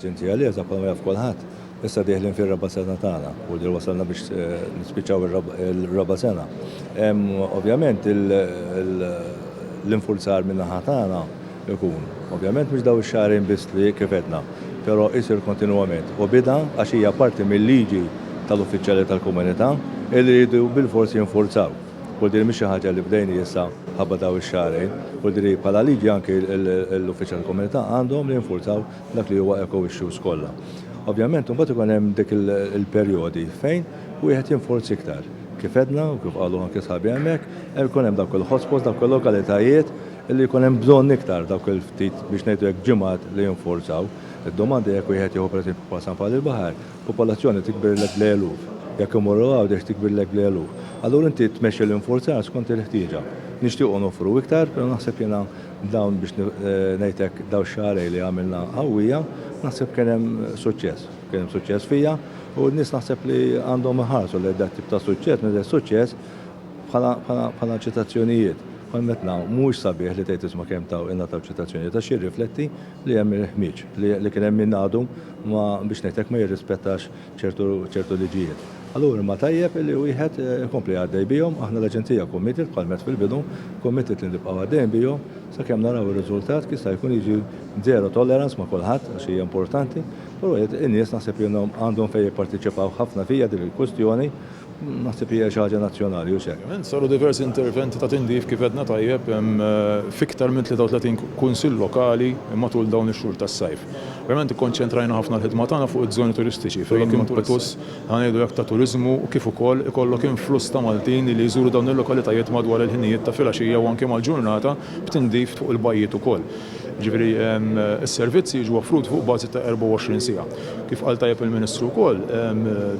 Ġentija Lieta bħalma jaf kulħadd. Issa dieħlin fir-raba' sena tagħna u li wasalna biex eh, nispiċċaw ir-raba' sena. Ovvjament l-infurzar minn naħa tagħna ikun. Ovvjament mhux daw ix-xahrin biss li kif edna, però isir kontinwament u bida għax hija parti mill-liġi tal-uffiċjali tal-komunità li jridu bil-forsi jinfurzaw. U din mhix xi ħaġa li bdejni issa ħabba dawn ix-xahrejn, u diri bħala liġi anki l-uffiċċji tal-komunità għandhom jinfurzaw dak li huwa eco issues kollha. Ovvjament imbagħad ikun hemm dik il-perjodi fejn wieħed jinforz iktar. Kif għedna u kif qalu anki sħabi hemmhekk, hemm ikun hemm dawk il-hotspots, dawk il-lokalitajiet li jkun hemm bżonn iktar dawk il-ftit biex ngħidu hekk ġimgħat li jinfurzaw. Id-domanda jekk wieħed jieħu pereżempju bħal San Pawl il-Baħar, Popolazzjoni tikbirlek bl-eluf. Jekk imorru Għawdex tikbirlek bl-eluf. Allura inti tmexxi l-infurzar skont il-ħtieġa. Nixtiequ noffru iktar, pero naħseb jiena b'dawn biex ngħidlek dawn ix-xahrejn li għamilna qawwija, naħseb kien hemm suċċess. Kien hemm suċċess fija u n-nies naħseb li għandhom iħarsu lejn dat tip ta' suċċess meta jgħid suċċess bħala bħala ċitazzjonijiet. Bħal meta ngħidu mhuwiex sabiħ li tgħid isma' kemm taw ingħataw ċitazzjonijiet għax jirrifletti li hemm il-ħmieġ, li kien hemm min għadu ma, biex ngħidlek, ma jirrispettax ċertu liġijiet. Allura imma tajjeb li wieħed ikompli għaddej bihom, aħna l-Aġenzija committed, bħal m'għedt fil-bidu, committed li nibqgħu għaddejjin bihom sakemm naraw ir-riżultat, jista' jkun jiġi zero tolerance ma' kulħadd għax hija importanti, però in-nies naħseb li għandhom fejn jipparteċipaw ħafna fija din il-kwistjoni, Naħseb li hija xi ħaġa nazzjonali, hux hekk? Saru diversi interventi ta' tindif, kif għedna tajjeb, f'iktar minn 33 Kunsill Lokali matul dawn ix-xhur tas-sajf. Verament ikkonċentrajna ħafna l-ħidma tagħna fuq iż-żoni turistiċi fejn impetus, ħa ngħidu hekk, ta' turiżmu kif ukoll ikollok influss ta' Maltin li jżuru dawn il-lokalitajiet madwar il-ħinijiet ta' filgħaxija u anke mal-ġurnata b'tindif fuq il-bajjiet ukoll. Jiġifieri, s-servizzi jiġu offruti fuq bażi ta' 24 siegħa. Kif qal tajjeb il-Ministru wkoll,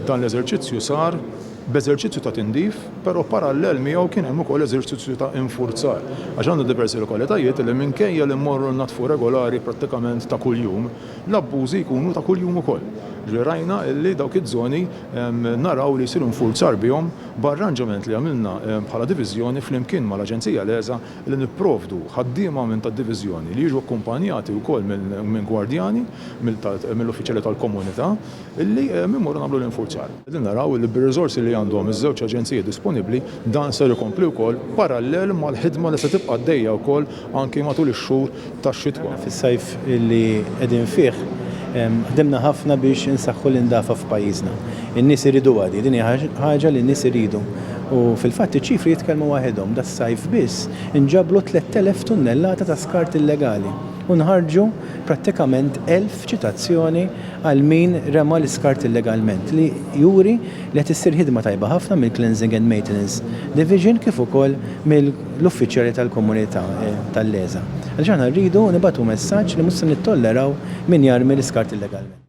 dan l-eżerċizzju sar b'eżerċizzju ta' tindif, però parallel miegħu kien hemm ukoll eżerċizzju ta' infurzar, għax għandna diversi lokalitajiet li minkejja li mmorru nnaddfu regolari prattikament ta' kuljum, l-abbużi jkunu ta' kuljum ukoll. Jiġifieri rajna li dawk iż-żoni naraw li jsir infurzar bihom b'arranġament li għamilna bħala diviżjoni flimkien mal-Aġenzija l-ESA, li nipprovdu ħaddiema minn tad-diviżjoni li jiġu akkumpanjati wkoll minn gwardjani, mill-uffiċjali tal-komunità, li mmorru nagħmlu l-infurzar. Qegħdin naraw li bir-riżorsi li għandhom iż-żewġ aġenziji disponibbli, dan ser ikompli wkoll parallel mal-ħidma li se tibqa' għaddejja wkoll anki matul ix-xhur tax-xitwa. Fis-sajf li qegħdin fih ħdimna ħafna biex insaħħu l-indafa f'pajjiżna. In-nies iriduha din, din hija ħaġa li n-nies iridu. U fil-fatt iċ-ċifri jitkellmu waħedhom, das-sajf biss inġabru 3,000 tunnellata ta' skart illegali u nħarġu prattikament 1,000 ċitazzjoni għal min rema' l-iskart illegalment li juri li qed issir ħidma tajba ħafna mill-Cleansing and Maintenance Division kif ukoll mill l-uffiċjali tal-komunità tal-LESA, għaliex aħna rridu nibagħtu messaġġ li mhux se nittolleraw min jarmi l-iskart illegalment.